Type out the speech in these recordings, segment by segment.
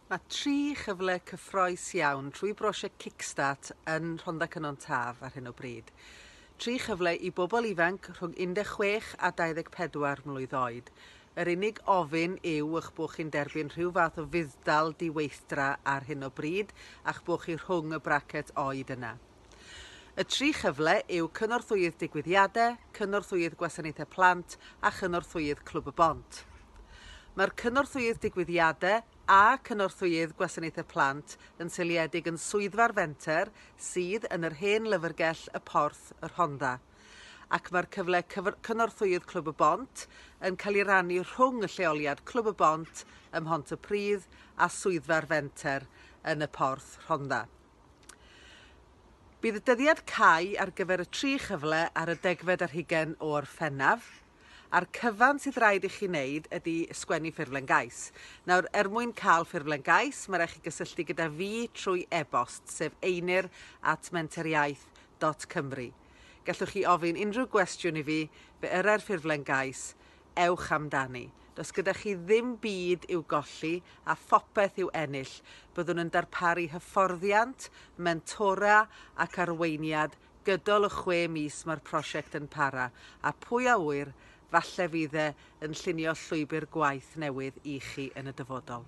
Mae tri chyfle cyffroes iawn trwy brosiect Kickstart yn Rhondda Cynon Taf ar hyn o bryd. Tri chyfle i bobl ifanc rhwng 16 a 24 mlwydd oed. Yr unig ofyn yw eich bod chi'n derbyn rhyw fath o fudd-dal di-weithdra ar hyn o bryd a'ch bod chi rhwng y bracet oed yna. Y tri chyfle yw Cynorthwyydd Digwyddiade, Cynorthwyydd Gwasanaethau Plant a Chynorthwyydd Clwb y Bont. Mae'r Cynorthwyydd Digwyddiade a Cynorthwyydd Gwasanaethau Plant yn seiliedig yn Swyddfa'r Fenter sydd yn yr hen lyfrgell Y Porth, Y Rhondda, ac mae'r cyfle cyf Cynorthwyydd Clwb y Bont yn cael ei rannu rhwng y lleoliad Clwb y Bont ym Mhont-y-pridd a Swyddfa'r Fenter yn Y Porth, Rhondda. Bydd y dyddiad cau ar gyfer y tri chyfle ar y degfed ar hugain o Orffennaf, a'r cyfan sydd raid i chi wneud ydy sgwennu ffurflen gais. Nawr, er mwyn cael ffurflen gais, mae raid chi gysylltu gyda fi trwy e-bost, sef einir at menteriaeth dot cymru. Gallwch chi ofyn unrhyw gwestiwn i fi, fe yrai'r ffurflen gais, ewch amdani. Does gyda chi ddim byd i'w golli a phopeth i'w ennill. Byddwn yn darparu hyfforddiant, mentora ac arweiniad gydol y chwe mis mae'r prosiect yn para, a pwy a ŵyr, falle fydd e yn llunio llwybr gwaith newydd i chi yn y dyfodol.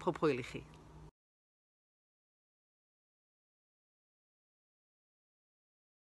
Pob hwyl i chi.